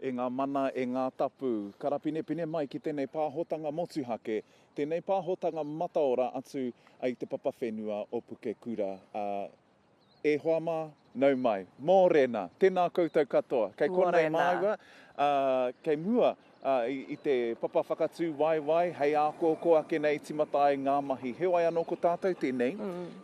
E ngā mana, e ngā tapu, karapinepine mai ki tēnei pāhotanga motuhake, tēnei pāhotanga mataora atu i te papa whenua o Pukekura. E hoa mā, nau mai. Mōrena! Tēnā koutou katoa. Kei konei māua, kei mua i te papa whakatū waiwai hei ākōkō ake nei tīmata ai ngā mahi. Heoi anō ko tātou tēnei,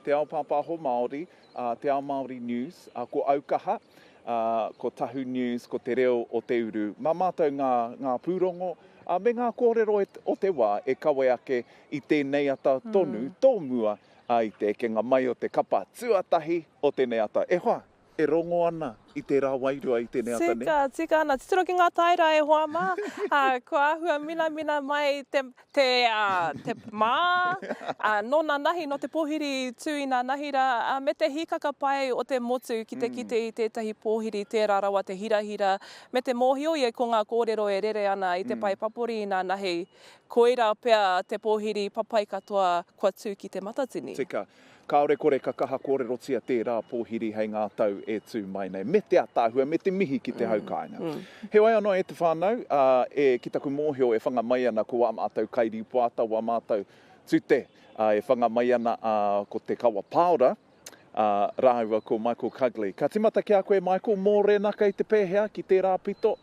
te ao pāpāho Māori, a Te Ao Māori News, a ko Aukaha, a ko Tahu News, ko Te Reo o Te Uru. Mā mātou ngā, ngā pūrongo a me ngā kōrero e, o te wā e kawe ake i tēnei ata tonu mm. tō mua a i te ekenga mai o te kapa tuatahi o tēnei ata. E hoa, e rongo ana i tērā wairua, i tēnei ata nei. Tika, tika ana. Titiro ki ngā taera e hoa mā. Kua āhua minamina mai te mā, nō nanahi, nō te pōhiri tū i nanahi rā, me te hīkaka pai o te motu ki te kite i tētahi pōhiri tērā rawa te hirahira, me te mōhio ia ko ngā kōrero e rere ana i te pae papori i nanahi, koirā pea te pōhiri papai katoa kua tū ki te matatini. Tika. Kāore kore ka kaha kōrerotia tērā pōhiri hei ngā tau e tū mai nei. Me te ataahua, me te mihi ki te hau kāinga. Heoi anō e te whānau, e, ki taku mōhio e whanga mai ana ko wā mātou kairīpoata, wā mātou tute e whanga mai ana ko Te Kawa Paora rāua ko Michael Cugley. Ka tīmata ki a koe Michael, mōrena kei te pēhea ki tērā pito?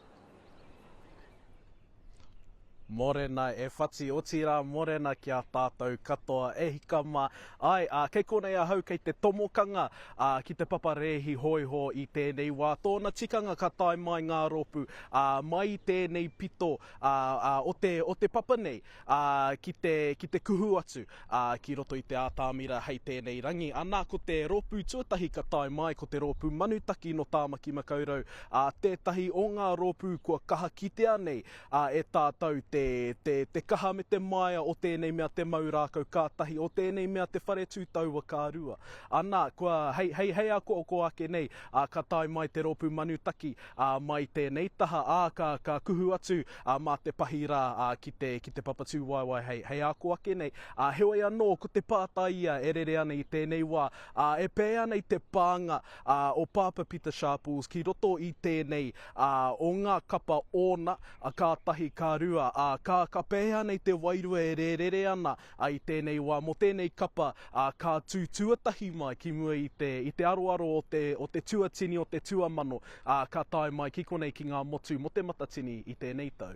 Morena e whati, otirā morena ki a tātou katoa. E hika mā. Āe, ā, kei konei ahau kei te tomokanga, ā, ki te papa rēhi hōiho i tēnei wā. Tōna tikanga ka tae mai ngā rōpū, ā, mai i tēnei pito, ā, ā, o te, o te papa nei. ā, ki te, ki te kuhu atu, ā, ki roto i te ātamira hei tēnei rangi. Anā, ko te rōpū tuatahi ka tae mai, ko te rōpū Manutaki nō Tāmaki Makaurau, ā, tētahi o ngā rōpū kua kaha kitea nei, ā, e tātou te, te, te kaha me te māia o tēnei mea te mau rākau ka tahi, o tēnei mea te whare tū taua ka rua. Anā, kua, hei, hei, hei akoako ake nei, ā, ka tae mai te rōpū Manutaki, Ā, mai tēnei taha, ā, ka, ka kuhu atu, ā, mā te pahi rā, ā, ki te, ki te papatūwaewae hei, hei ako ake nei. Ā, heoi anō, ko te pātai ia e rere ana i tēnei wā, ā, e pēea nei te pānga, ā, o Pāpā Pita Sharples ki roto i tēnei, ā, o ngā kapa ōna, ā, ka tahi, ka rua, ā, ka, ka pēhea nei te wairua e rērere ana A i tēnei wā, mō tēnei kapa, ā, ka tū tuatahi mai ki mua i te, i te aroaro o te, o te tuatini o te tuamano, ā, ka tae mai ki konei ki ngā motu mō te matatini i tēnei tau.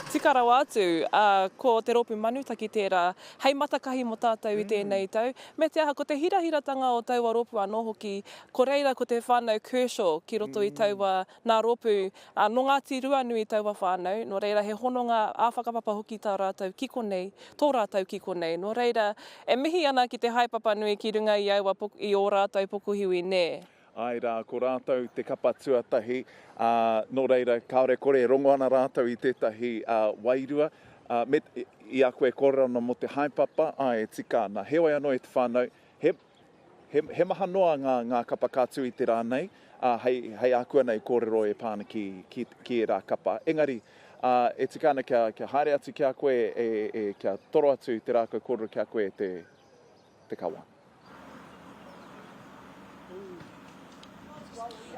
Tika rawa atu, ā, ko te rōpū Manutaki tērā hei matakahi mō tātou i tēnei tau, me te aha, ko te hirahiratanga o taua rōpū anō hoki, ko reira ko te whānau Kershaw ki roto i taua Nā rōpū, ā, nō Ngāti Ruanui taua whānau, nō reira he hononga ā-whakapapa hoki tā rātou ki konei, tō rātou ki konei. Nō reira, e mihi ana ki te haepapa nui ki runga i aua po, i ō rātou pokohiwi, nē. Āe rā, ko rātou te kapa tuatahi, ā, nō reira, kāore kore e rongo ana rātou i tētahi, ā, wairua, ā, me, i a koe e kōrero ana mō te haepapa, āe e tika ana. Heoi anō e te whānau, he. He maha noa ngā kapa ka tū i te rā nei, ā, hei ākuanei kōrero e pā ana ki ērā kapa. Engari, e tika ana kia haere atu ki a koe, kia toro atu i te rākau kōrero ki a koe e te kawa.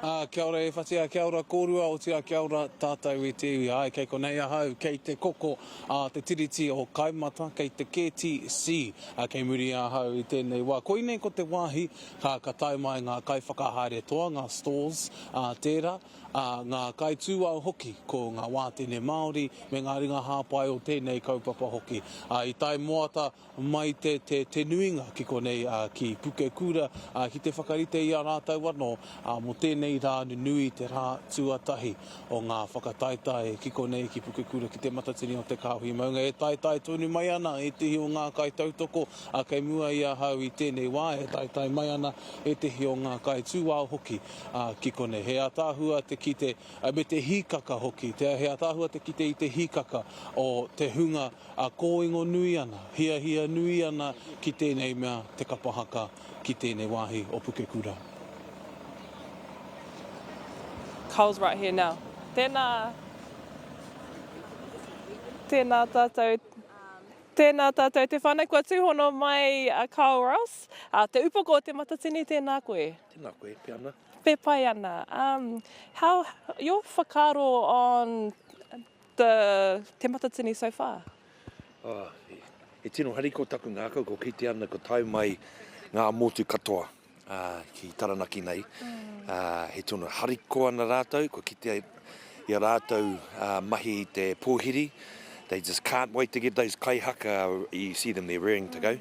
Ā, kia ora e whatea, kia ora kōrua, otirā kia ora tātou e te iwi. Āe, kei konei ahau, kei te koko a te Tiriti o Kaimata, kei te KTC, ā, kei muri i ahau i tēnei wā. Koinei ko te wāhi, ā, ka tae mai ngā kaiwhakahaere toa, ngā stores, ā, tērā, ā, ngā kaitūao hoki, ko ngā wātene Māori me ngā ringa hāpai o tēnei kaupapa hoki. Ā, i tae moata, mai te, te, te nuinga ki konei, ā, ki Pukekura, ā, ki te whakarite i a rātou anō, ā, mō tēnei rā nunui te rā tuatahi o ngā whakataetae ki konei, ki Pukekura, ki Te Matatini o Te Kāhui Maunga, e taetae tonu mai ana ētehi o ngā kaitautoko, ā, kei mua i ahau i tēnei wā, e taetae mai ana ētehi o ngā kaitūao hoki, ā, ki konei. He ataahua te kite, me te hīkaka hoki, te, he ataahua te kite i te hīkaka o te hunga, A kōingo nui ana, hiahia nui ana ki tēnei mea te kapa haka ki tēnei wāhi o Pukekura. Carl's right here now. Tēnā, tēnā tātou, tēnā tātou te whānau kua tūhono mai a Carl Ross, a Te Upoko o Te Matatini, tēnā koe. Tēnā koe, pē ana. Pē pai ana. Um, how, your whakaaro on The Te Matatini so far? Oh, he tino hariko taku ngākau, ko kite ana ko tae mai ngā motu katoa uh, ki Taranaki nei. Mm. Uh, he tino hariko ana rātou, ko kite i a rātou uh, mahi i te pōhiri. They just can't wait to get those kaihaka, you see them there raring to go. Mm.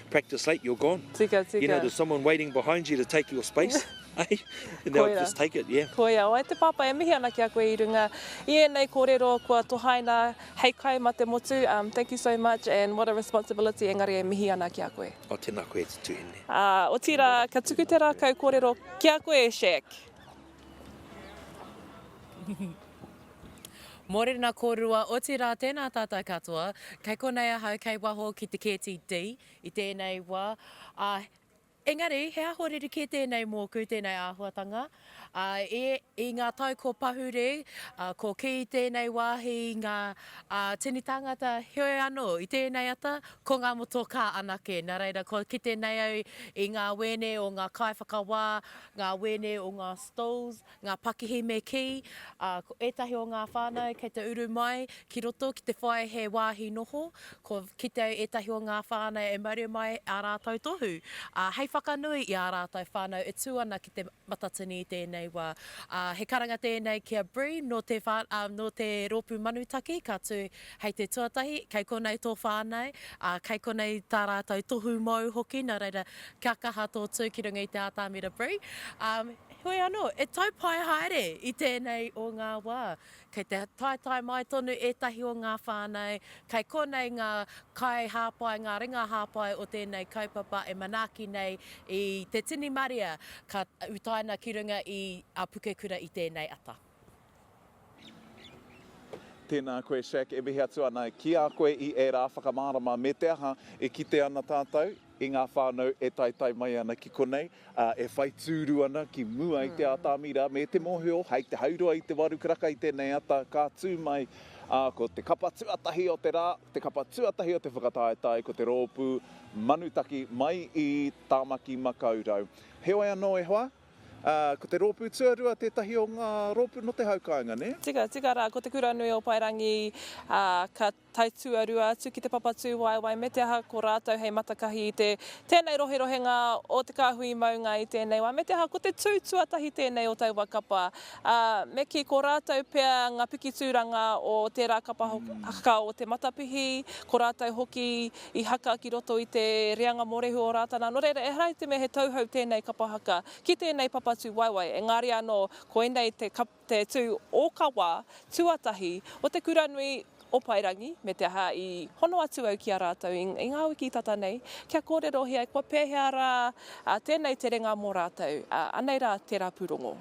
practice late you're gone. Tika, tika. You know there's someone waiting behind you to take your space. Hey? And they'll just take it, yeah. Koia, o ai te pāpā, e mihi ana ki a koe i runga i ēnei kōrero kua tohaina hei kai ma te motu. Um, thank you so much and what a responsibility, engari e mihi ana ki a koe. O tēnā koe e te tuhine. Uh, o tira, ka tuku te rākau kōrero ki a koe, Shaq. Mōrena kōrua, otirā tēnā tātou katoa, kei konei ahau kei waho ki te KTD i tēnei wā, ā, engari he aho rerekē tēnei mōku, tēnei āhuatanga, ā, e, i ngā tau ko pahure, ā, ko kī i tēnei wāhi i ngā, ā, tini tāngata, heoi anō, i tēnei ata, ko ngā motokā anake, nā reira, kua kite nei au i ngā wēne o ngā kaiwhakawā, ngā wēne o ngā stalls, ngā pakihi me kī, ā, ko ētahi o ngā whānau kei te uru mai ki roto ki te whai he wāhi noho, kua kite ai ētahi o ngā whānau e mauri mai ā rātou tohu, ā, hei whakanui i ā rātou whānau e tū ana ki te matatini i tēnei wā. Ā, he karanga tēnei ki a Bree nō te whā, ā, nō te rōpū Manutaki ka tū Hei te tuatahi, kei konei tō whānau, ā, kei konei tā rātou tohu mōu hoki, nō reira, kia kaha tō tū ki runga i te ātamira Bree. Ā, heoi anō, e tau pai haere i tēnei o ngā wā, kei te taetae mai tonu ētahi o ngā whānau, kei konei ngā kaihāpai, ngā ringa hāpai o tēnei kaupapa e manaaki nei i te tini marea ka utaina ki runga i a Pukekura i tēnei ata. Tēnā koe Shaq, e mihi atu ana ki a koe i ērā whakamārama me te aha e kite ana tātou i ngā whānau e taetae mai ana ki konei, ā, e whai tūru ana ki mua i te ātamira me te mōhio hei te hauroa i te waru karaka i tēnei ata ka tū mai, ā, ko te kapa tuatahi o te rā, te kapa tuatahi o te whakataetae ko te rōpū Manutaki mai i Tāmaki-makau-rau. Heoi anō e hoa! Ā, ko te rōpū tuarua tētahi o ngā rōpū nō te hau kāinga, nē? Tika, tika rā, ko Te Kuranui o Paerangi, ā, ka tae tuarua atu ki te Papatūwaewae me te aha, ko rātou hei matakahi i te tēnei roherohenga o te kāhui maunga i tēnei wā, me te aha, ko te tū tuatahi tēnei o taua kapa. Ā, me kī, ko rātou pea ngā pikitūranga o tērā kapa hoki, o te matapihi, ko rātou hoki i haka ki roto i te reanga mōrehu o Rātana. Nō reira, ehara i te mea he tauhou tēnei kapa haka ki tēnei papa tū waewae, engari anō koinei te, te tū ōkawa tuatahi o te kura nui o Paerangi, me te aha i hono atu au ki a rātou i, i ngā wiki tata nei, kia kōrerohia kua pēhea rā tēnei terenga mō rātou, anei rā tērā pūrongo.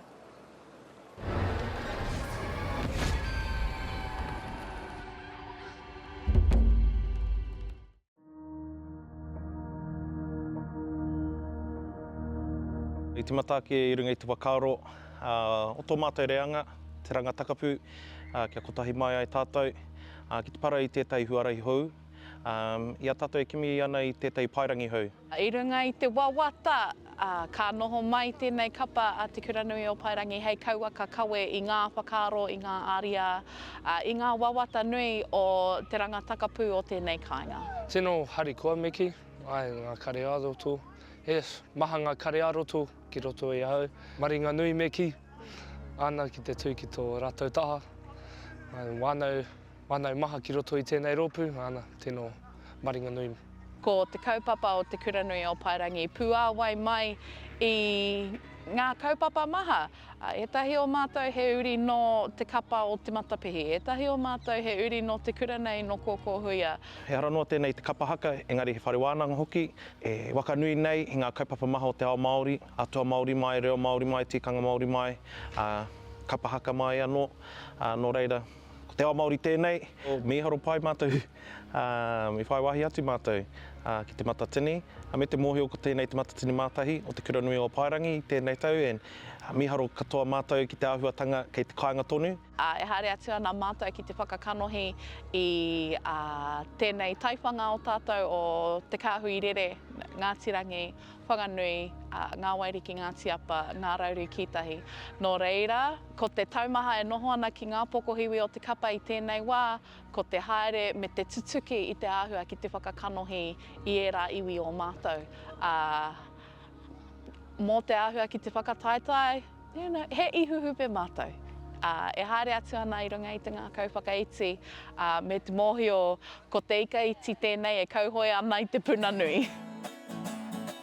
I timata ake i runga i te whakaaro o tō mātou reanga, te ranga takapu, kia kotahi mai ai tātou ki te para i tētahi huarahi hou. I a tātou e kimi ana i tētahi paerangi hou, I runga i te wawata, ka noho mai tēnei kapa a Te Kuranui o Paerangi hei kauaka kawe i ngā whakaaro, i ngā ariā, i ngā wawata nui o te ranga takapū o tēnei kāinga. Tino harikoa Miki, ae nga kare aroto, yes, maha nga kare aroto ki roto i ahau. Maringanui Miki, ana ki te tu ki to ratou taha, whanau Whanau maha ki roto i tēnei rōpū, ana, tēnō Maringanui. Ko te kaupapa o Te Kuranui o Paerangi puāwai mai i ngā kaupapa maha. Ētahi o mātou he uri nō te kapa o Te Matapihi, ētahi o mātou he uri nō te kura nei nō Kōkōhuia. He ara noa tēnei i te kapa haka, engari he whare wānanga hoki, e waka nui nei i ngā kaupapa maha o te ao Māori, atua Māori mai, reo Māori mai, tikanga Māori mai, ā, kapa haka mai anō, ā, nō reira, Ko te ao Māori tēnei, mīharo pai mātou i whai wāhi atu mātou ki Te Matatini me te mōhio ko tēnei Te Matatini Mātahi o Te Kura Nui o Paerangi i tēnei tau and mīharo katoa mātou ki te āhuatanga kei te kāinga tonu. E haere atu ana mātou ki te whakakanohi i tēnei taiwhanga o tātou o Te Kāhui Rere, Ngāti Rangi, Whanganui, Ngā Wairiki, Ngāti Apa, Ngā Rauru Kītahi. Nō reira, Ko te taumaha e noho ana ki ngā pokohiwi o te kapa i tēnei wā, ko te haere me te tutuki i te āhua ki te whakakanohi i ērā iwi o mātou, ā, mō te āhua ki te whakataetae, you know, he ihuhupe mātou, ā, e haere atu ana i runga i te ngākau whakaiti, ā, me te mōhio ko te ika iti tēnei e kauhoe ana i te puna nui.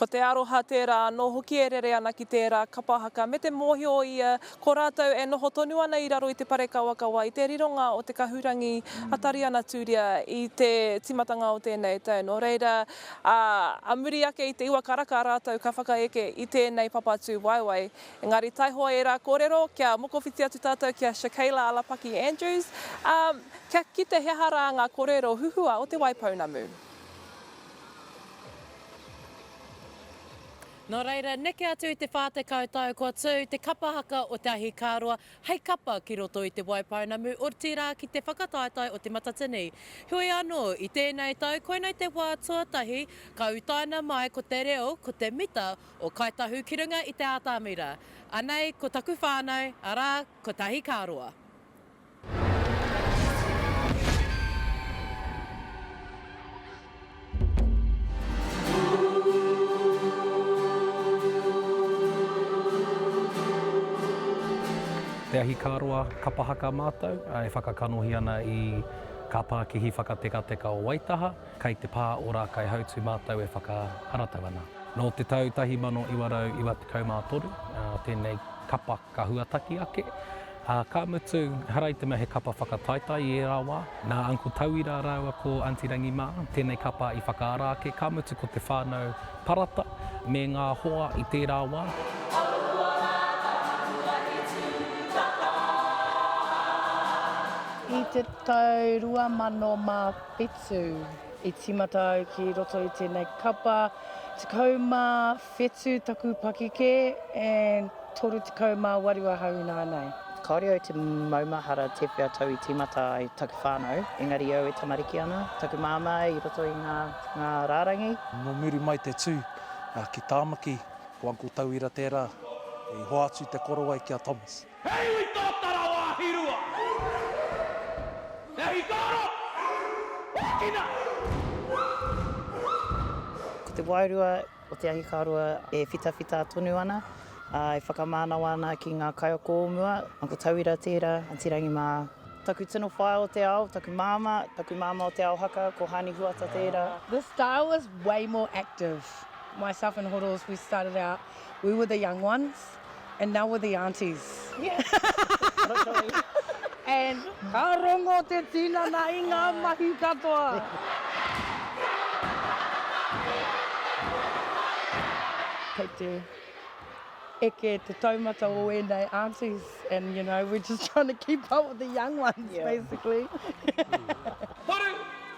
Ko te aroha tērā anō hoki e rere ana ki tērā kapa haka me te mōhio ia ko rātou e noho tonu ana i raro i te parekawakawa i te rironga o te kahurangi a Tariana Turia i te tīmatanga o tēnei tau. Nō reira, ā muri ake i te uakaraka rātou ka whakaeke i tēnei papatū waewae Engari taihoa ērā kōrero, kia mokowhiti atu tātou ki a Shakayla Alapaki Andrews, ā, kia kite he aha rā ngā kōrero huhua o Te Waipounamu. Nō reira, neke atu i te 40 tau kua tū te kapa haka o te ahikāroa hei kapa ki roto i Te Waipounamu, otirā ki te whakataetae o Te Matatini. Heoi anō, i tēnei tau, koinei te wā tuatahi ka utaina mai ko te reo, ko te mita O Kāi Tahu ki runga i te ātamira. Anei ko taku whānau, arā, ko Tahi Kā Roa. Te Ahi Kā Roa Kapa Haka mātou e whakakanohi ana i Kā Pākihi Whakatekateka o Waitaha. Kei te pā o Rākaihautū mātou e whakaharatau ana. Nō te tau 1993 tēnei kapa ka huataki ake, ā, ka mutu, ehara i te mea he kapa whakataetae i ērā wā, nā Uncle Tauira rāua ko Aunty Rangi mā tēnei kapa i whakaara ake, ka mutu ko te whānau Parata me ngā hoa i tērā wā. I te tau 2001 Whetū. I tīmata au ki roto i tēnei kapa, 17 taku pakikē and 38 ahau inānei. Kāore au te maumahara tēwhea tau i tīmata ai taku whānau, engari au e tamariki ana, taku māmā i roto i ngā, ngā rārangi. Nō muri mai te tū ki Tāmaki, ko Uncle Tauira tērā i hoatu te korowai ki a Thomas. He iwi tōtara o Ahirua! He ahi tāro! Ākina! Ko te wairua o te ahi karua e whitawhita tonu ana, ā, e whakamānawa ana ki ngā kaiako o mua. Ko tauira tērā, Anti Rangi mā. Taku tino whaea o te ao, taku māmā, taku māmā o Te Ao Haka, ko Hāni Huata tērā. This style was way more active. Myself and Horoz, we started out, we were the young ones. and now we're the aunties. And ka rongo te tinana i ngā mahi katoa. Eke te taumata o ēnei aunties and you know we're just trying to keep up with the young ones basically. Toru!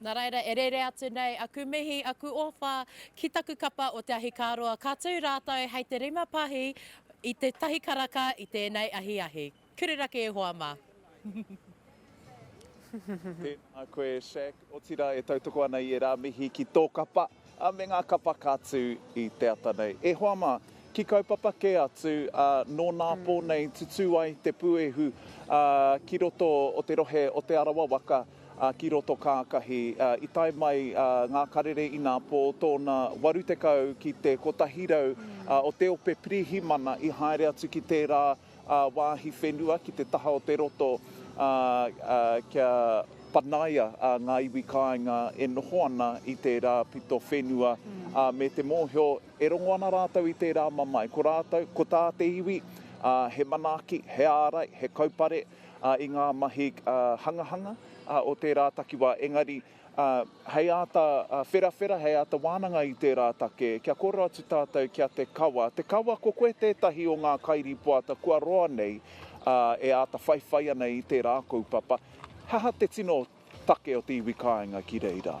Nā reira e rere atu nei aku mihi, aku ōwha ki taku kapa o te ahikāroa, ka tū rātou hei te rima pahī i tētahi karaka i tēnei ahiahi. Kurirake ihoa mā. Tēnā koe Shaq, otirā e tautoko ana i ērā mihi ki tō kapa. A me nga kapa ka tu i te ata nei. E hoa ma, ki kaupapa ke atu, a no na po nei tutu ai te puehu a ki roto o te rohe o Te Arawa waka, a ki roto kakahi. A i tae mai a nga karere i na po tona 80 ki te 100 a o te ope pirihimana i haere atu ki tera wāhi whenua ki te taha o te roto kia panaia ngā iwi kāinga e noho ana i tērā pito whenua me te mōhio e rongo ana rātou i tērā mamae. Ko rātou, ko tā te iwi, he manaaki, he ārai, he kaupare i ngā mahi hangahanga o tērā takiwā, engari. Ā, hei āta wherawhera, hei āta wānanga i tērā take, kia kōrero atu tātou ki a te kawa. Te kawa, ko koe tētahi o ngā kairīpoata kua roa nei, ā, e āta whaiwhai ana i tērā kaupapa. He aha te tino take o te iwi kāinga ki reira?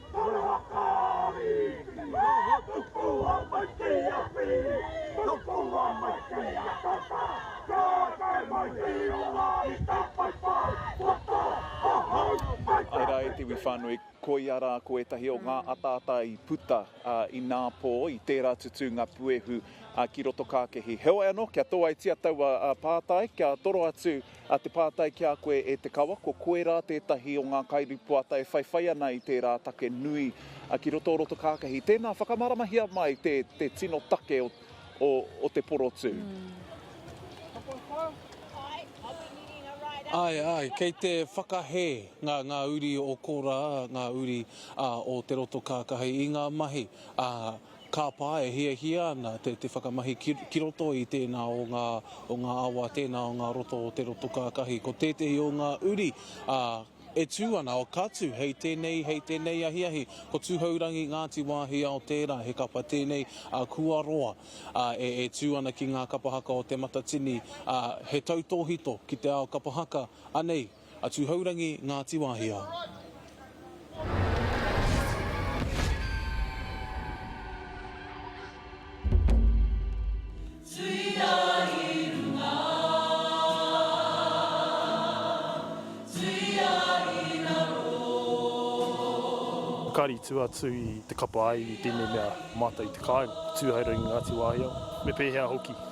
Ai rā e te iwi whānui, koia rā ko ētahi o ngā ataata i puta inā pō, i tērā tutū ngā puehu ki roto kākehi. Heoi anō, kia tōaitia taua pātai, kia toro atu A te pātai ki a koe e Te Kawa, ko koe rā tētahi o ngā kairīpoata e whaiwhai ana i tērā take nui ki roto o Rotokākahi. Tēnā, whakamāramahia mai te te tino take o o o te porotū. Āe, āe, kei te whakahē ngā ngā uri o Kōrā, ngā uri o Te Rotokākahi i ngā mahi a. Kāpā e hiahia ana te te whakamahi ki ki roto i tēnā o ngā o ngā awa, tēnā o ngā roto o te roto kākahi. Ko tētehi o ngā uri, ā, e tū ana, o ka tū hei tēnei, hei tēnei ahiahi, ko Tūhourangi Ngāti Wāhiao tērā, he kapa tēnei a Kua Roa, ā, e e tū ana ki ngā kapa haka o Te Matatini, ā, he tautōhito ki te ao kapa haka, anei. A Tuhourangi, Ngati Whakaari tu atu i te kapa aiwi tēnei mea mātau i te kāinga, Tuhourangi, Ngati Wāhiao, me pēhea hoki.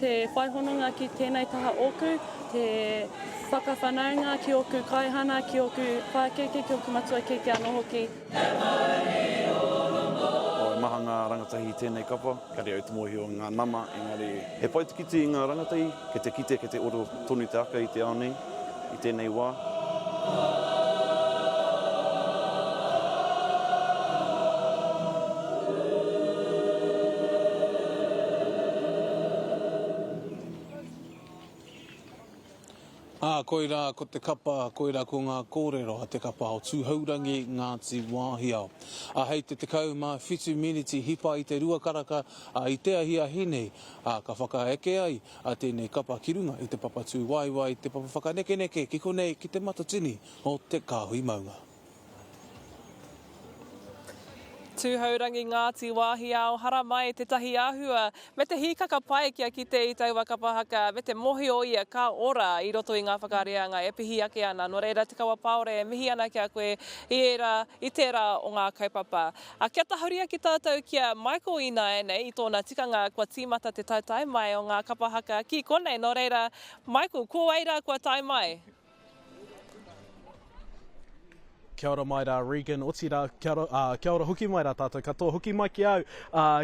Te whai hononga ki tēnei taha ōku, te whakawhanaunga ki ōku kaihana, ki ōku pākeke, ki ōku matua kēkē anō hoki. He mauri o Rongo. He maha ngā rangatahi i tēnei kapa, kare au te mōhio i ngā nama, engari he whaitikiti i ngā rangatahi, kei te kite, kei te oro tonu te aka i te ao nei. i tēnei wā. Ā, koirā ko te kapa, koirā ko ngā kōrero a te kapa o Tūhourangi, Ngāti Wāhiao. Ā, hei te 17 miniti hipa i te rua karaka, ā, i te ahiahi nei, ā, ka whakaeke ai, a tēnei kapa ki runga i te papa tūwaewae, te papa whakanekeneke ki konei ki Te Matatini o Te Kāhui Maunga. Tūhourangi Ngāti Wāhiao Haramai tētahi āhua me te hīkaka pai kia kite i taua kapa haka me te mōhio ia ka ora i roto i ngā whakareanga e pihi ake ana nō reira Te Kawapāore e mihi ana ki a koe i ērā i tērā o ngā kaupapa A kia tahuri ake tatou ki a Michael ināianei i tōna tikanga kua tīmata te taetae mai o ngā kapa haka ki konei nō reira Michael ko wai rā kua tae mai? Kia ora mai rā Regan, otirā kia ora, kia ora hoki mai rā tātou katoa. Hoki mai ki au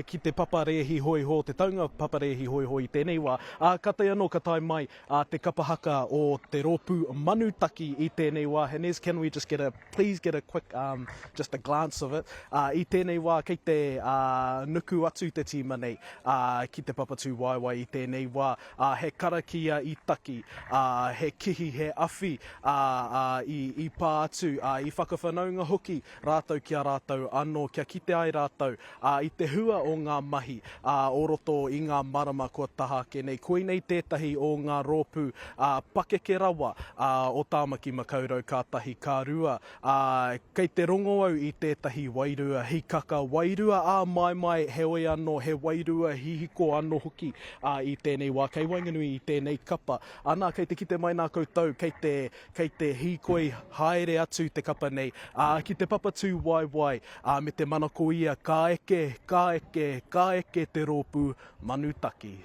ki te papa rēhi hōihō, te taunga papa rēhi hōihō i tēnei wā. Ā, ka tae anō ka tae mai a te kapa haka o te rōpū manutaki i tēnei wā, Hanez, can we just get a, please get a quick, um, just a glance of it, ā, i tēnei wā kei te, ā, nuku atu te tīma nei, ā, ki te papatūwaewae i tēnei wā, ā, he karakia i taki, ā, he kihi, he awhi, ā, ā, i, i pā atu, ā, i whakawhanaunga hoki rātou ki a rātou anō kia kite ai rātou, ā, i te hua o ngā mahi, ā, o roto i ngā marama kua taha ake nei. Koinei tētahi o ngā rōpū, ā, pakeke rawa, ā, o Tāmaki Makaurau ka tahi, ka rua, ā, kei te rongo au i tētahi wairua hikaka, wairua āmaimai, heoi anō, he wairua hihiko anō hoki, ā, i tēnei wā, kei waenganui i tēnei kapa. Anā, kei te kite mai nā koutou, kei te Kei te hīkoi haere atu te kapa nei, ā, ki te papatū waewae, ā, me te manako ia, ka eke, ka eke, ka eke te rōpū manu taki.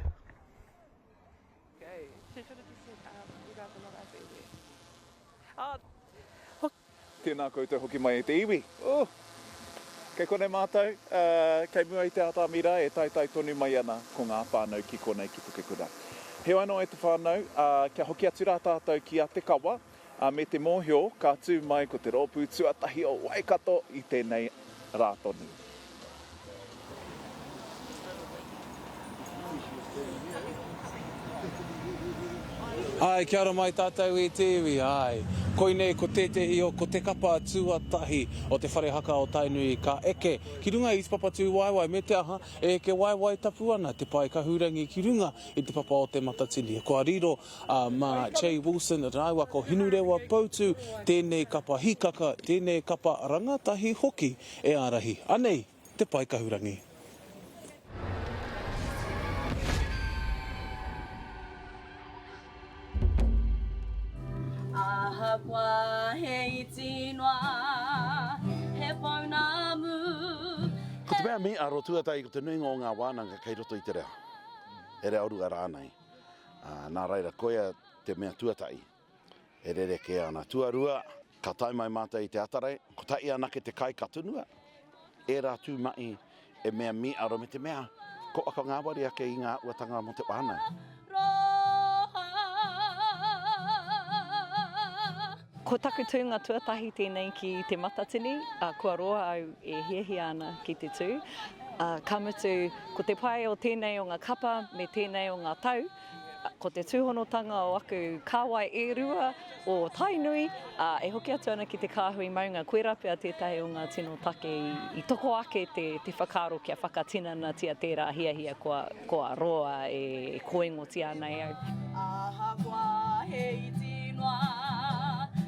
Tēnā koutou hoki mai e te iwi. Ooh! Kei konei mātou, kei mua i te atāmi rā e taetae tonu mai ana ko ngā whānau ki konei ki Pukekura. Heoi anō e te whānau, kia hoki atu rā tātou ki a Te Kawa, me te mōhio ka tū mai ko te rōpū tuatahi o Waikato i tēnei rā tonu. Ae, kia ora mai tatou e te iwi, ae. Koinei ko tetehi o ko te kapa tuatahi o te whare haka o Tainui ka eke ki runga i te papatūwaewae me te aha e eke waewae tapu ana te pae kahurangi ki runga i te papa o te matatini. Kua riro a ma Jay Wilson raua ko Hinurewa Poutu tenei kapa hikaka, tenei kapa rangatahi hoki. E ārahi anei te pae kahurangi? Ahakoa he iti noa, he pounamu, he. Ko te mea me aro tuatahi ko te nuinga o ngā wānanga kei roto i te reo, he reo rua rānei, ā, nā reira koia te mea tuatahi. E rerekē ana. Tuarua, ka tae mai mātou i te Atarei, kotahi anake te kai ka tunua, ērā tū mahi e mea mīaro me te mea ko waka ngāwari ake i ngā āhuatanga mō te whānau. Ko taku tūnga tuatahi tēnei ki Te Matatini, ā, kua roa au e hiahia ana ki te tū, ā, ka mutu, ko te pai o tēnei o ngā kapa me tēnei o ngā tau, Ko te tūhonotanga o aku kāwai e rua o Tainui, ā, e hoki atu ana ki te kāhui maunga, koirā pea tētahi o ngā tino take i toko ake te whakaaro kia whakatinanatia tērā hiahia kua roa e kōingotia ana e au. Ahakoa he iti noa.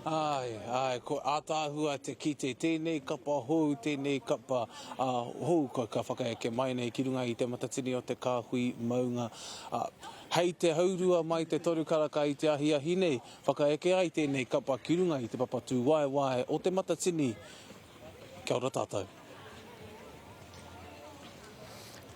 Āe, āe, ko Ataahua te kite, tēnei kapa hou, tēnei kapa hou kua ka whakaeke mai nei ki runga i Te Matatini o Te Kāhui Maunga. Hei te haurua mai te toru karaka i te ahiahi nei, whakaeke ai tēnei kapa ki runga i te papatūwaewae o Te Matatini. Kia ora tātou.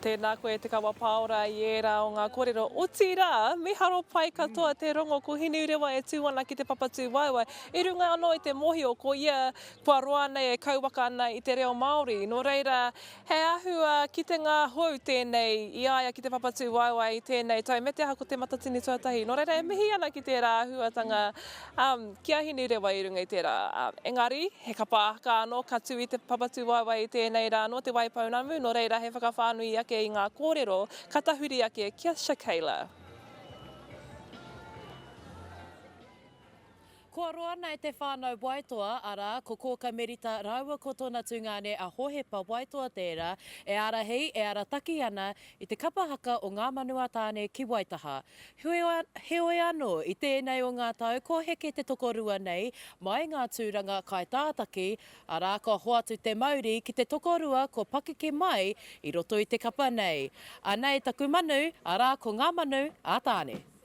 Tēnā koe Te Kawa Pāora i ērā o ngā kōrero, otirā, miharo pai katoa te rongo ko Hinerewa e tū ana ki te Papatūāua i runga anō i te mōhio ko ia kua roa nei e kauwaka ana i te reo Māori. Nō reira, he āhua kitenga hou tēnei i a ia ki te Papatūāua i tēnei tau me te aha ko Te Matatini Tuatahi. Nō reira, e mihi ana ki tērā āhuatanga Ki a Hinerewa i runga i tērā. Engari, he kapa aka anō ka tū i te papatūwaewae i tēnei rā anō te Waipounamu, nō reira he whakawhānui ake i ngā kōrero ka tahuri ake ki a Shakayla. Kua roa ana e te whānau Waitoa, arā, ko Kōka Merita rāua ko tōna tungāne a Hohepa Waitoa tērā e ārahi, e arataki ana I te kapa haka o Ngā Manu a Tāne ki Waitaha. Heoi anō, i tēnei o ngā tau kua heke te tokorua nei mai ngā tūranga kaitātaki, arā, kua hoatu te mauri ki te tokorua kua pakeke mai i roto i te kapa nei. Anei taku manu, arā, ko Ngā Manu a Tāne.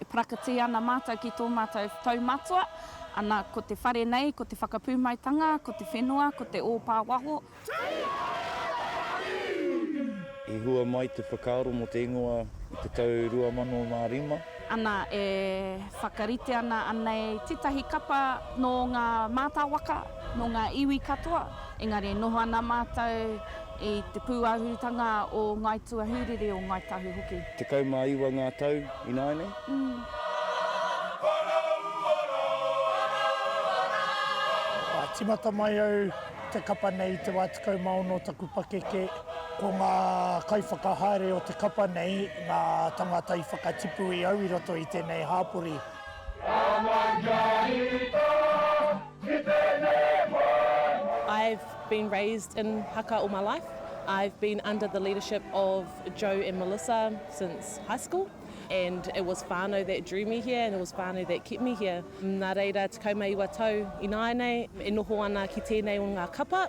E parakatī ana mātou ki tō mātou tau matua, ana, ko te whare nei, ko te whakapūmaitanga, ko te whenua, ko te ōpā waho. I hua mai te whakaaro mō te ingoa i te tau 2005. Ana, e whakarite ana anei tētahi kapa nō ngā mātāwaka, nō ngā iwi katoa, engari e noho ana mātou I te pūāhurutanga o Ngāi Tuahurere, o Ngāi Tahu hoki. Tekau mā iwa ngā tau ināianei. Ka tīmata mai au te kapa nei i te wā tekau mā ono o taku pakeke. Ko ngā kaiwhakahaere o te kapa nei ngā tāngata i whakatipu i au i roto i tēnei hāpori. Ka mai kia rita. I've been raised in haka all my life, I've been under the leadership of Joe and Melissa since high school and it was whānau that drew me here and it was whānau that kept me here. Nā reira, 19 tau ināianei e noho ana ki tēnei o ngā kapa.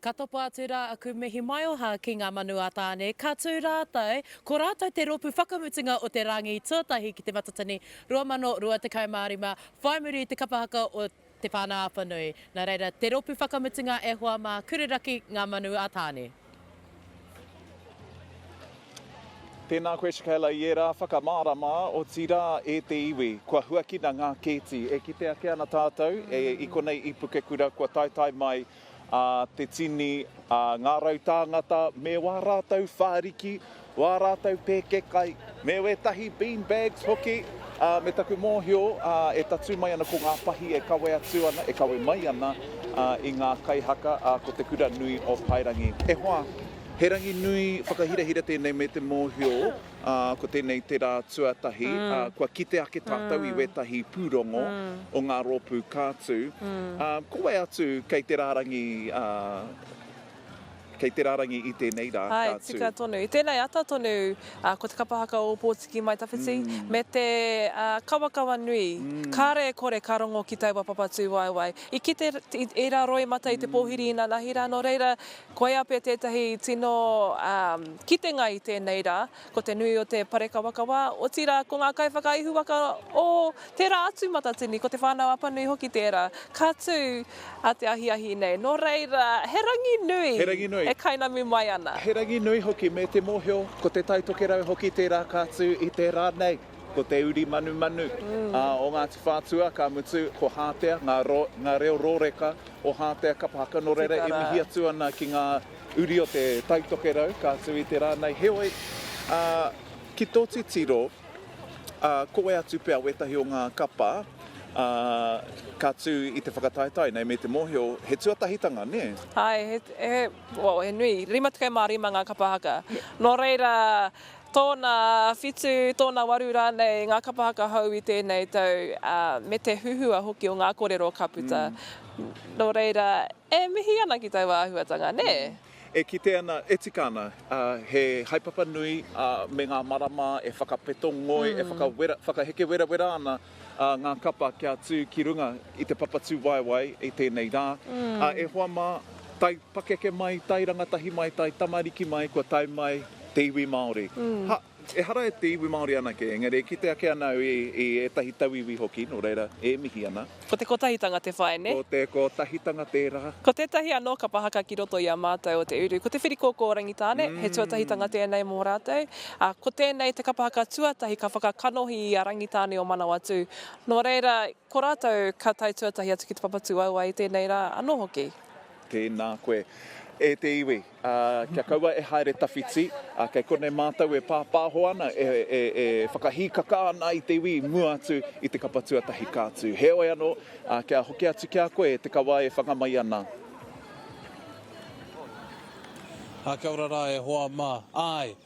Ka topa atu rā aku mihi maioha ki ngā manu a Tāne, ka tū rātou, ko rātou te rōpū whakamutunga o te Rāngi Tuatahi ki Te Matatini 2025, whai muri i te kapa haka o Te Whānau Apanui. Nā reira, te rōpū whakamutunga e hoa mā, Kureraki, Ngā Manu a Tāne. Tēnā koe Shakela i ērā whakamārama, otirā e te iwi. Kua huakina ngā kēti. E kite ake ana tātou i konei i Pukekura kua taetae mai te tini a ngā rau tāngata me wā rātou whāriki, Wā rātou pēkekai, me wētahi bean bags hoki, ā, me taku mōhio, ā, e tatū mai ana ko ngā pahi e kawe atu ana, e kawe mai ana, ā, i ngā kai haka, ā, ko te kura nui o Paerangi. E hoa, he rangi nui whakahirahira tēnei me te mōhio, ā, ko tēnei te rā tuatahi, ā, kua kite ake tātou i wētahi pūrongo o ngā rōpū kātū, ā, ko wai atu kei te rārangi, ā, Kei te rarangi i tēnei rā, ka tū. Hai tika tonu. I tēnei ata tonu, ko te kapa haka o Ōpōtiki Mai Tawhiti, me te kawakawa nui, kāre e kore ka rongo ki taua Papatūwaewae. I kite i rā roimata i te pōhiri inanahi rā, nō reira, koia pea tētahi tino kitenga i tēnei rā, ko te nui o te parekawakawa, otirā, ko ngā kaiwhakaihuwaka o tērā atu matatini, ko Te Whānau Apanui hoki tērā, ka tū a te ahiahi nei. Nō reira, he rangi nui e kainamu mai ana. He rangi nui hoki, me te mōhio, ko Te Tai Tokerau hoki tērā ka tū i te rā nei, ko te uri manumanu o Ngāti Whātua, ka mutu, ko Hātea, ngā reo rōreka o Hātea kapa haka, nō reira, e mihi atu ana ki ngā Uri o te Taitokerau, ka atu i te rānei, heoi, ā, ki tō titiro, ā, ko e atu pea wētahi o ngā kapa, ā, ka tū i te whakataetae nei me te mōhio, he tuatahitanga, nē? Āe, he, he, well, he nui, 55 ngā kapa haka. Nō reira, tōna whitu, tōna waru rānei ngā kapa haka hou i tēnei tau, ā, me te huhua hoki o ngā kōrero ka puta. Nō reira, E mihi ana ki taua āhuatanga, nē? E kite ana, e tika ana, he haepapa nui me ngā marama e whakapeto ngoi, e whakaheke werawera ana ngā kapa kia tū ki runga i te papatūwaewae i tēnei rā. E hoa mā, taipakeke mai, tairangatahi mai, taitamariki mai, kua tae mai te iwi Māori. Ha! Ehara e te iwi Māori anake, engari e kite ake ana au i ētahi tauiwi hoki, nō reira, e mihi ana. Ko te kotahitanga te whai, nē? Ko te kotahitanga tērā. Ko tētahi anō ka pahaka ki roto i a mātou o te uru, ko te whirikōkō Rangitāne, he tuatahitanga tēnei mō rātou, ā, ko tēnei te kapa haka tuatahi ka whakakanohi i a Rangitāne o Manawatū. Nō reira, ko rātou ka tae tuatahi atu ki te papatū aua i tēnei rā anō hoki. Tēnā koe, e te iwi. Ā, kia kaua e haere tawhiti, ā, kei konei mātou e pāpāho ana, e, e, e whakahīkaka ana i te iwi i mua atu i te kapa tuatahi ka tū. Heoi anō, ā, kia hoki atu ki a koe e te kawa e whanga mai ana. Ā, kia ora rā e hoa mā. Āe!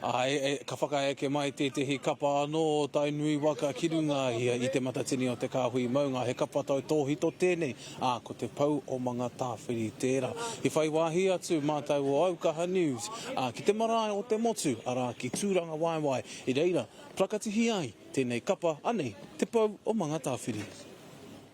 Ā, ka whakaeke mai tētehi kapa anō o Tainui waka ki runga ia i Te Matatini o Te Kāhui Maunga. He kapa tautōhito tēnei, ā, ko Te Pou o Mangatāwhiri tērā. I whai wāhi atu mātau o Aukaha News, ā, ki te marae o Te Motu, arā, ki Tūrangawaewae, i reira plakatihi ai tēnei kapa, anei Te Pou o Mangatāwhiri.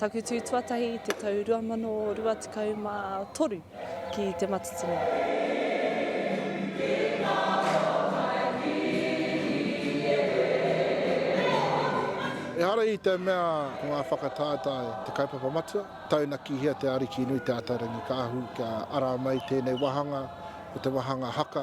Taku tū tuatahi i te tau 2023 ki Te Matatini. Ehara i te mea ko ngā whakataetae te kaupapa matua, taunakihia te Arikinui Te Ataarangi Kaahu kia ara mai tēnei wāhanga, ko te wāhanga haka,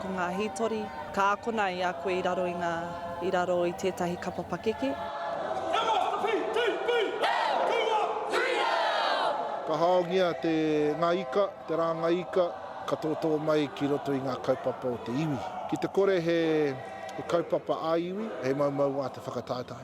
Ko ngā hītori, ka akona i a koe i raro i ngā, i raro i tētahi kapa pakeke. Ka haongia te, ngā ika, te rāngai ika, ka tōtō mai ki roto i ngā kaupapa o te iwi. Ki te kore he, he kaupapa ā-iwi, he mau mauā te whakataetae.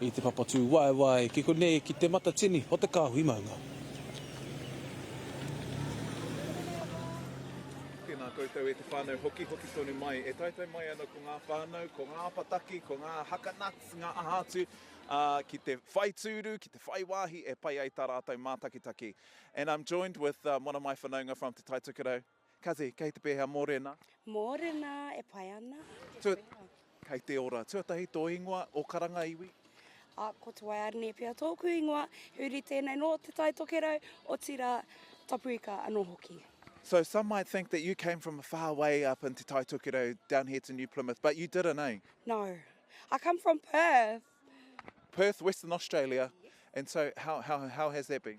I te papatūwaewae ki konei ki Te Matatini o Te Kāhui Maunga. Tēnā koutou e te whānau hoki, hoki tonu mai. E taetae mai ana ko ngā whānau, ko ngā apataki, ko ngā haka nuts, ngā aha atu, ā, ki te whai tūru, ki te whai wāhi e pai ai tā rātou mātakitaki. And I'm joined with one of my whanaunga from Te Tai Tokerau. Kazi, kei te pēhea mōrena? Mōrena, e pai ana. Tua, kei te ora. Tuatahi tō ingoa, o karanga iwi? A, ko Te Waiarene pea tōku ingoa, he uri tēnei nō Te Tai Tokerau, otirā, Tapu Ika anō hoki. So some might think that you came from a far way up in Te Tai Tokerau down here to New Plymouth, but you didn't, eh? No. I come from Perth. Perth, Western Australia. And so how, how, how has that been?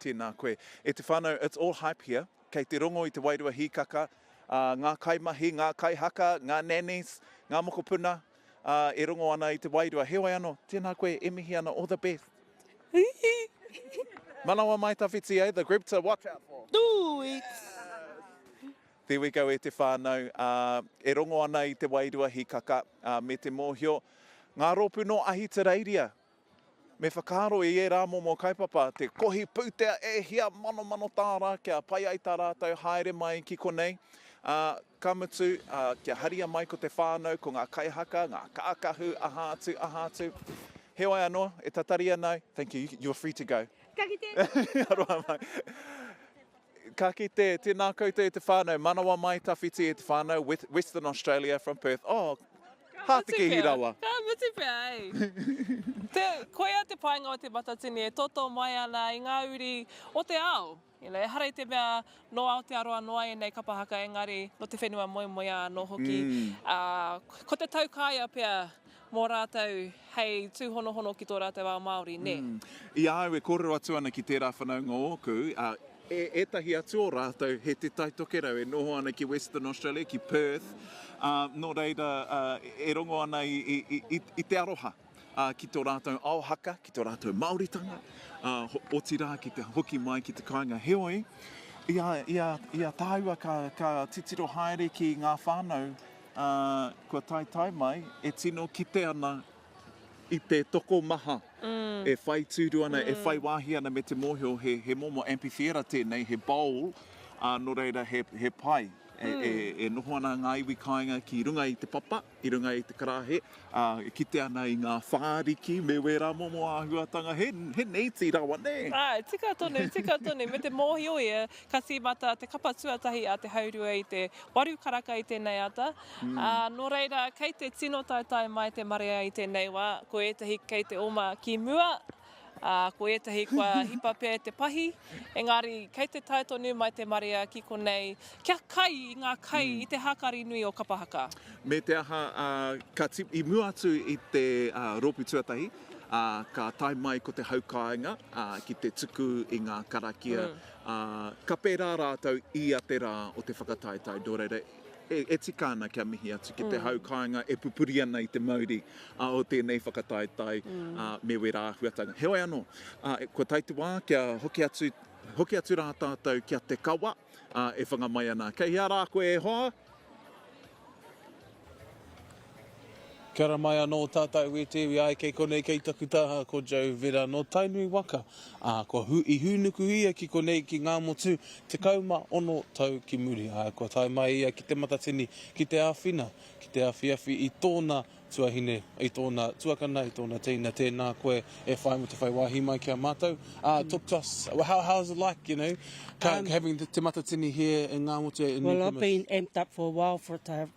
Tēnā koe. E te whānau, it's all hype here. Kei te rongo i te wairua hīkaka, ā, ngā kaimahi, ngā kaihaka, ngā nannies, ngā mokopuna, ā, e rongo ana i te wairua. Heoi anō, tēnā koe, e mihi ana, all the best. Manawa mai tawhiti, eh? The group to watch out for. Tūwits! There we go e te whānau, ā, e rongo ana i te wairua hīkaka, ā, me te mōhio. Ngā rōpū nō Ahitereiria, Me whakaaro i ērā momo kaupapa te kohi pūtea e hia manomano tāra kia pai ai tā rātou haere mai ki konei, ā, ka mutu, ā, kia haria mai ko te whānau, ko ngā kaihaka, ngā kākahu, aha atu, aha atu. Heoi anō, e tatari ana au, thank you, you are free to go. Ka kite! Aroha mai. Ka kite, tēnā koutou e te whānau, manawa mai tawhiti e te whānau, Western Australia from Perth. Oh, hātekehi rawa. Ka mutu pea, e. Koia te painga o te Matatini e totō mai ana i ngā uri o te ao. Ehara i te mea nō Aotearoa noa ēnei kapa haka engari nō te whenua moemoeā anō hoki. Ko te taukaea pea mō rātou hei tūhonohono ki tō rātou ao Māori, nē? I a au e kōrero atu ana ki tērā whanaunga ōku, e ētahi atu o rātou he Te Tai Tokerau e noho ana ki Western Australia, ki Perth, ā, nō reira, e rongo ana i te aroha ki tō rātou ao haka, ki tō rātou Māoritanga, ā, otirā ki te hoki mai ki te kāinga. Heoi, i a tāua ka titiro haere ki ngā whānau, Ā, kua taetae mai, e tino kite ana i te tokomaha e whai tūru ana, e whai wāhi ana me te mōhio, he, he momo amphitheatre tēnei, he bowl, ā, nō reira, he, he pai. E, e, e noho ana ngā iwi kāinga ki runga i te papa, i runga i te karāhe, Ā, e kite ana i ngā whāriki me wērā momo āhuatanga, he, he neiti rawa, nē? Āe, tika tonu, tika tonu, me te mōhio ia, ka tīmata te kapa tuatahi a te haurua i te waru karaka i tēnei ata, ā, nō reira, kei te tino taetae mai te marea i tēnei wā, ko ētahi kei te oma ki mua, ā, ko ētahi kua hipa pea e te pahi, engari kei te tae tonu mai te marea ki konei kia kai i ngā kai i te hākari nui o Kapa Haka. Me te aha, ā, ka tip, i mua atu i te, ā, rōpū tuatahi, ā, ka tae mai ko te hau kāinga, ā, ki te tuku i ngā karakia, ā, ka pērā rātou ia te rā o te whakataetae, nō reira, e tika ana kia mihi atu ki te hau kāinga e pupuri ana i te mauri o tēnei whakataetae me wērā āhuatanga. Heoi anō, kua tae te wā kia hoki atu, hoki atu rā tātou ki a Te Kawa e whanga mai ana. Kei hea rā koe e hoa? Kia ora mai anō tātou e te iwi ai kei konei kei taku taha ko Joe Vera nō Tainui waka ā kua hu i hūnuku ia ki konei ki Ngāmotu 16 tau ki muri ā kua tae mai ia ki Te Matatini ki te āwhina ki te awhiawhi i tōna tuahine i tōna tuakana i tōna teina tēnā koe e whai mō te whai wāhi mai ki a mātou ā talk to us well, how, how is it like you know um, having Te Matatini here in Ngāmotu well I've been amped up for a while for it to have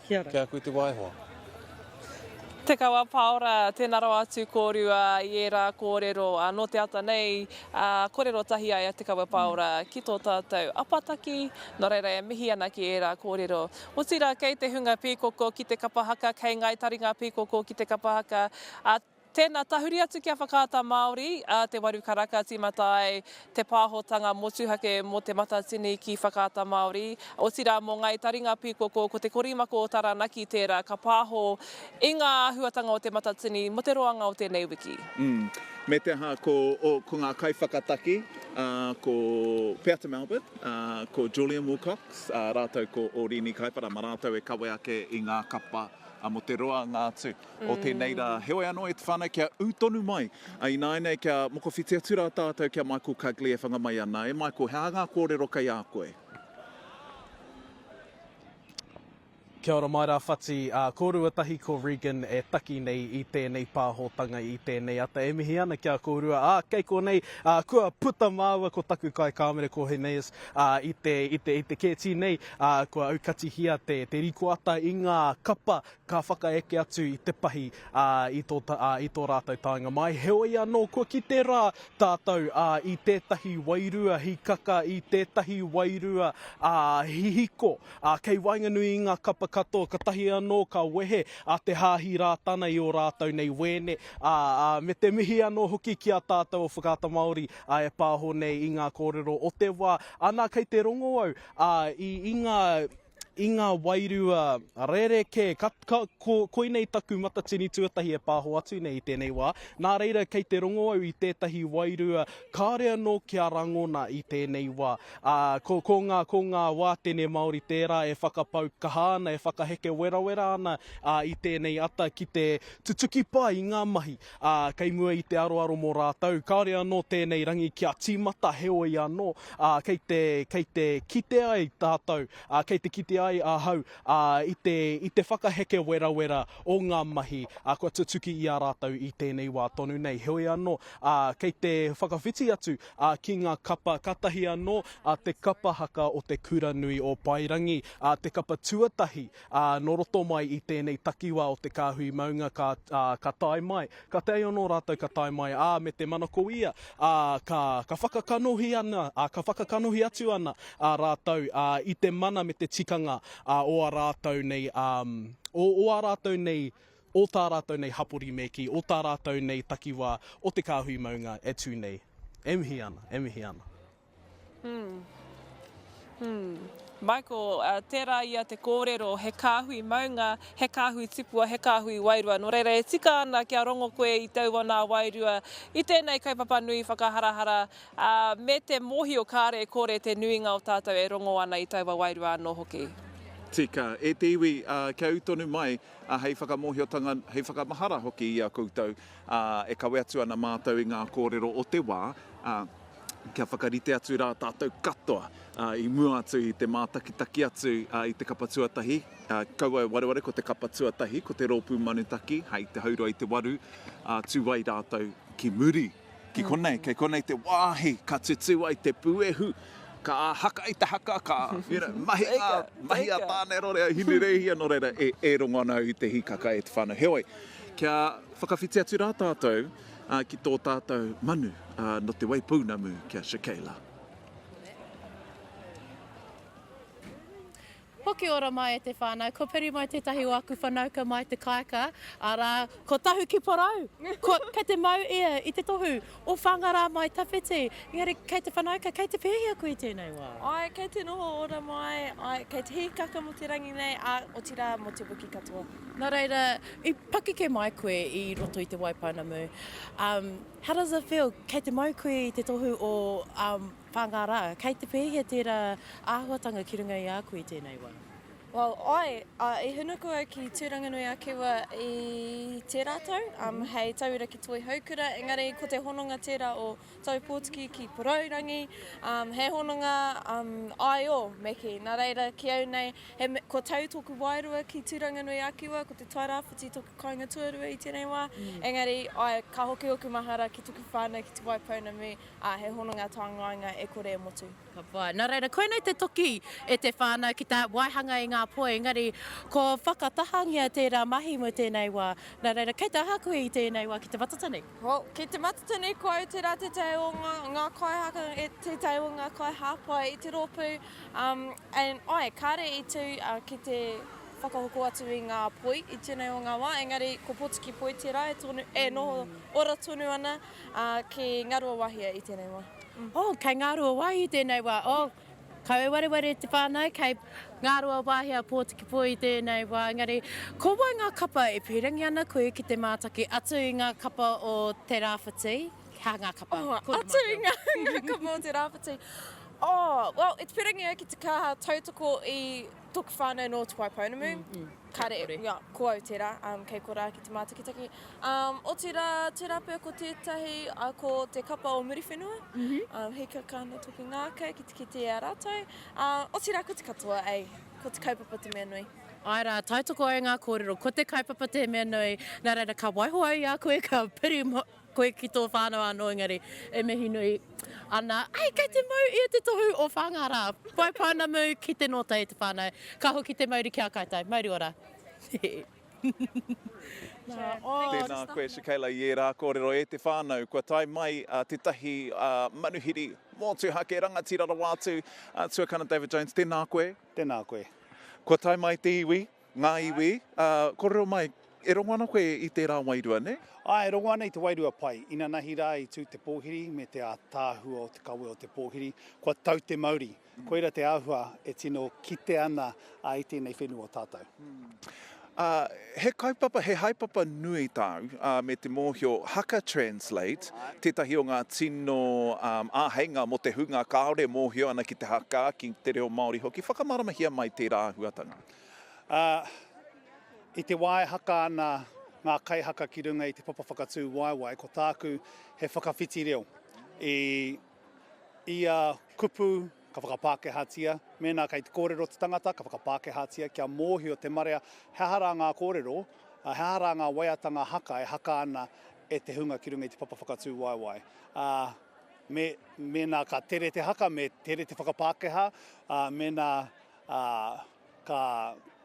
Kia ora. Kei a koe te waehoa. Te Kawa Paora, tēnā rawa atu kōrua i ērā kōrero nō te ata nei, kōrero tahi ai a Te Kawa Paora ki tō tātou apataki, nō reira e mihi ana ki ērā kōrero. Otirā kei te hunga pīkoko ki te kapa haka, kei ngāi taringa pīkoko ki te kapa haka, Tēnā, tahuri atu ki a Whakaata Māori, a Te Waru Karaka, tīmata ai te pāhotanga motuhake mō Te Matatini ki Whakaata Māori, otirā mō Ngāi Taringa Pīkoko, ko Te Korimako o Taranaki tērā ka pāho i ngā āhuatanga o Te Matatini mō te roanga o tēnei wiki. Umm. Me te aha, ko, ko ngā kaiwhakataki, ā, ko Peata Melvin, ā, ko Julian Wilcox, ā rātou ko Orīni Kaipara, mā rātou e kawe ake i ngā kapa mō te roanga atu. o tēnei rā. Heoi anō, e te whānau kia ū tonu mai. Ināinei kia mokowhiti atu rā tātou ki a Michael Cugley e whanga mai ana. E Michael, he aha ngā kōrero kei a koe? Kia ora mai rā Whati, kōrua tahi ko Regan e taki nei i tēnei pāhotanga, i tēnei ata. E mihi ana ki a kōrua, ā, kei konei, kua puta māua ko taku kaikāmere ko Hineas i te kēti nei, kua aukatihia te rikoata i ngā kapa ka whakaeke atu i te pahi i tō rātou taenga mai. Heoi anō, kua kite rā tātou i tētahi wairua hikaka, i tētahi wairua hihiko kei waenganui i ngā kapa katoa, katahi anō ka wehe te Hāhi Rātana i ō rātou nei wēne, ā, me te mihi anō hoki ki a tātou o Whakaata Māori e pāho nei i ngā kōrero o te wā. Anā, kei te rongo au i ngā. i ngā wairua rerekē, ka, ka, ko, koinei taku matatini tuatahi e pāho atu nei i tēnei wā. Nā reira, kei te rongo au i tētahi wairua kāore anō kia rangona i tēnei wā. Ā, ko, ko, ngā, ko ngā wātene Māori tērā e whakapau kaha ana, e whakaheke werawera ana ā, i tēnei ata ki te tutuki pai i ngā mahi. ā, kei mua i te aroaro mō rātou, kāore anō tēnei rangi kia tīmata, heoi anō, ā, kei te, kei te kite ai tātou, ā, kei te kite ai ahau, ā, i te, i te whakaheke werawera o ngā mahi, ā, kua tutuki i a rātou i tēnei wā tonu nei. Heoi anō, ā, kei te whakawhiti atu, ā, ki ngā kapa, kātahi anō, ā, te kapa haka o te kura nui o Paerangi, ā, te kapa tuatahi, Ā, nō roto mai i tēnei takiwā o te kāhui maunga ka, ā, ka tae mai, ka tae anō rātou ka tae mai, ā, me te manako ia, ā, ka, ka whakakanohi ana, ā, ka whakakanohi atu ana, ā, rātou, ā, i te mana me te tikanga, ā, o a rātou nei, ā, o, o ā rātou nei, o tā rātou nei hapori me kī, o tā rātou nei takiwā o te kāhui maunga e tū nei. E mihi ana, e mihi ana. Michael, tērā ia te kōrero, he kāhui maunga, he kāhui tipua, he kāhui wairua. Nō reira, e tika ana kia rongo koe i taua nā wairua i tēnei kaupapa nui whakaharahara me te mōhio kāre e kore te nuinga o tātou e rongo ana i taua wairua anō hoki. Tika. E te iwi, kia ū tonu mai hei whakamōhiotanga, hei whakamahara hoki i a koutou. ā, e kawe atu ana mātou i ngā kōrero o te wā, ā, kia whakarite atu rā tātou katoa, ā, i mua atu i te mātakitaki atu, ā, i te kapa tuatahi, ā, kaua e wareware ko te kapa tuatahi, ko te rōpū manutaki, hai te haurua i te waru, ā, tū ai rātou ki muri. Ki konei, kei konei te wāhi ka tutū ai te puehu. Ka haka i te haka, ka mahi ngā mahi a Tāne Rore, a Hinereihia, nō reira, e rongo ana au i te hīkaka e te whānau. Heoi, kia whakawhiti atu rā tātou ki tō tātou manu nō Te Waipounamu ki a Shakela. Hoki ora mai e te whanau. Ko Piri mai tetahi o aku whanauka mai te Kaeka, ara, ko Tahu ki Porou. Ko, kei te mau ia i te tohu o Whangara mai tawhiti. Engari kei te whanauka, kei te pehi aku i tenei wa? Ae, kei te noho ora mai, ae, kei te hihikaka mo te rangi nei, a, otira mo te wiki katoa. Na reira, i pakeke mai koe i roto i te wai pounamu, um, how does it feel, kei te mau koe i te tohu o, um, Whā ngā rā. Kei te pēhea tērā āhuatanga ki runga i a koe i tēnei wā? Well, āe, ā, i hunuku au ki Tūranganui-a-Kiwa i tērā tau, um, hei tauira ki Toihoukura, engari ko te hononga tērā o Taupōtiki ki Porourangi, um, he hononga um, āio me kī. Nā reira, ki au nei, he, kua tau tōku wairua ki Tūranganui-a-Kiwa, ko te Tairāwhiti tōku kāinga tuarua i tēnei wā, engari, āe, ka hoki ōku mahara ki tōku whānau ki Te Wai Pounamu, Ā, he hononga tā ngāinga e kore e motu. Ka pai. Nā reira, koinei te toki e te whānau ki te waihanga i ngā poi, engari ko whakatahangia tērā mahi mō tēnei wā. Nā reira, kei te aha koe i tēnei wā ki te Matatini? Ho, ki te Matatini, ko au tērā tētahi o ngā, ngā kaihaka, e, tētahi o ngā kaihāpai i te rōpū, um, and, āe, kāre i tū, ā, ki te whakahoko atu i ngā poi i tēnei o ngā wā, engari ko Potiki Poi tērā e tonu, e noho ora tonu ana. Ā, ki Ngāruawāhia i tēnei wā. Oh, kei Ngāruawāhia i tēnei wā. Oh, kau e wareware te whānau, kei Ngāruawāhia, Pōtiki-pō i tēnei wā. Engari, ko wai ngā kapa e pīrangi ana koe ki te mātaki atu i ngā kapa o te rāwhiti? Hā ngā kapa. Oh, atu i ngā kapa o te rāwhiti. Oh, well, e te pīrangi au ki te kaha tautoko i tōku whānau nō Te Wai Pounamu. Kare, ia, ko au tērā, kei korā ki te mātakitaki. Otirā, tērā pea ko tētahi, ko te kapa o Muriwhenua, he kakana toki ngākau ki te kitea a rātou. Otirā, ko te katoa, ei, ko te kaupapa te mea nui. Āe rā, tautoko ai ngā kōrero, ko te kaupapa te mea nui, nā reira ka waiho au i a koe, ka piri. Koe ki tō whānau anō engari e mihi nui ana ai kei te mau ia te tohu o Whāngārā. Whai pounamu ki te nōta e te whānau. Ka hoki te mauri ki a koutou. Mauri ora. Tēnā koe Shakela i ērā kōrero e te whānau. Kua tae mai tētahi manuhiri mōtuhake rangatira rawa atu. Tuakana David Jones, tēnā koe. Tēnā koe. Kua tae mai te iwi. Ngā iwi, ā, kōrero mai, e rongo ana koe i tērā wairua, nē? Āe, e rongo ana i te wairua pai. Inanahi rā i tū te pōhiri me te ātaahua o te kawe o te pōhiri, kua tau te mauri. Koira te āhua e tino kite ana i tēnei whenua o tātou. Ā, he kaupapa, he haepapa nui tāu, ā, me te mōhio, haka translate, tētahi o ngā tino, ā, āheinga mō te hunga kāore e mōhio ana ki te haka, ki te reo Māori hoki. Whakamāramahia mai tērā āhuatanga. Ā, i te wā e haka ana ngā kaihaka ki runga i te papa whakatū waewae, ko tāku he whakawhiti reo i ia kupu ka whakapākehātia, mēnā kei te kōrero te tangata, ka whakapākehātia kia mōhio te marea he aha rā ngā kōrero, ā, he aha rā ngā waiatanga haka e haka ana e te hunga ki runga i te papa whakatū waewae. Ā, me, mēnā ka tere te haka, me tere te whakapākehā, ā, mēnā ā, ka,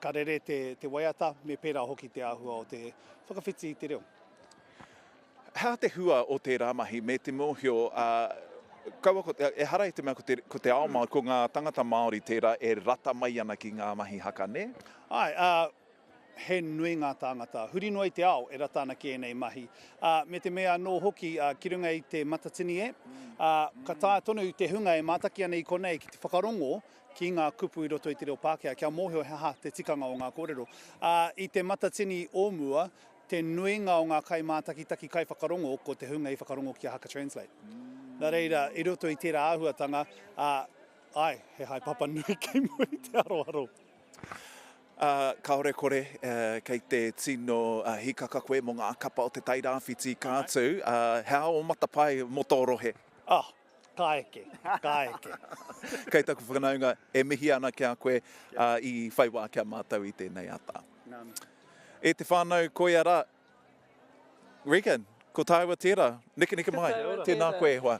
ka rere te, te waiata, me pērā hoki te āhua o te whakawhiti i te reo. Hea te hua o tērā mahi me te mōhio, ā, kaua ko, ehara i te mea ko te, ko te ao Māori, ko ngā tangata Māori tērā e rata mai ana ki ngā mahi haka, nē? Āe, ā, he nui ngā tāngata, huri noa i te ao, e rata ana ki ēnei mahi. Ā, me te mea anō hoki, ā, ki runga i te matatini e, ā, ka taea tonu te hunga e mātaki ana i konei ki te whakarongo ki ngā kupu i roto i te reo Pākehā, kia mōhio he aha te tikanga o ngā kōrero. Ā, i Te Matatini o mua, te nuinga o ngā kaimātakitaki kaiwhakarongo, ko te hunga i whakarongo ki a Haka Translate. Nā reira, i roto i tērā āhuatanga, ā, āe, he haepapa nui kei mua i te aroaro. Ā, kāore kore, ā, kei te tino hīkaka koe mō ngā kapa o Te Tairāwhiti ka tū, ā, he aha ō matapae mō tō rohe? Ā, Ka eke, ka eke. Kei taku whakanaunga, e mihi ana ki a koe i whai wā ki a mātou i tēnei ata. Nā mihi. E te whānau, koia rā. Regan, ko tāua tērā. Nekeneke mai. Kia ora. Tēnā koe e hoa.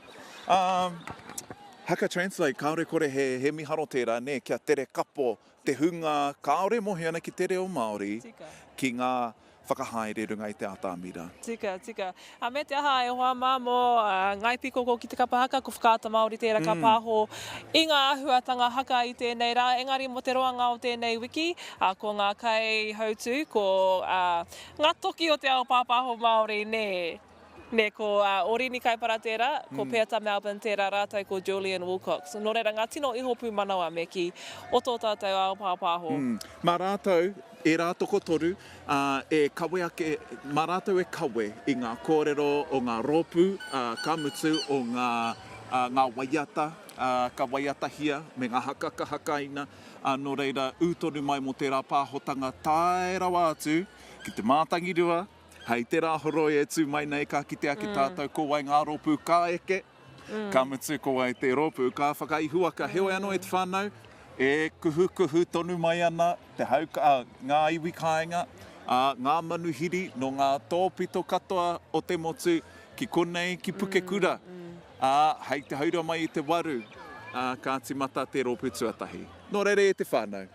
Haka Translate, kāore kore he miharo tērā, nē, kia tere kapo Te hunga kāore e mohi ana ki te reo Māori, ki ngā whakahaere runga i te ātamira. Tika, tika. Ā, me te aha, e hoa mā, mō Ngāi Pīkoko ki te kapa haka, ko Whakaata Māori tērā ka pāho i ngā āhuatanga haka i tēnei rā. Engari mō te roanga o tēnei wiki, ko ngā kaihautū, ko ngā toki o te ao pāpāho Māori, nē. Nē, ko Orini Kaipara tērā, ko Peata Melbourne tērā rātou ko Julian Wilcox. Nō reira, ngā tino iho pūmanawa me kī, o tō tātou ao pāpāho. Mā rātou, ērā tokotoru, e kawe ake, mā rātou e kawe i ngā kōrero o ngā rōpū, ka mutu, o ngā waiata ka waiatahia me ngā haka ka hakaina, nō reira, ū tonu mai mō tērā pāhotanga tae rawa atu ki te mātangirua, Hei te rā horoi e tū mai nei ka kitea ki tātou ko wai ngā rōpū ka eke, ka mutu ko wai te rōpū ka whakaihuwaka. Heoi anō e te whānau, e kuhukuhu tonu mai ana te hau, ngā iwi kāinga, ngā manuhiri nō ngā tōpito katoa o te motu ki konei, ki Pukekura, ā, hei te haura mai i te waru, ā, ka tīmata te rōpū tuatahi. Nō reira e te whānau.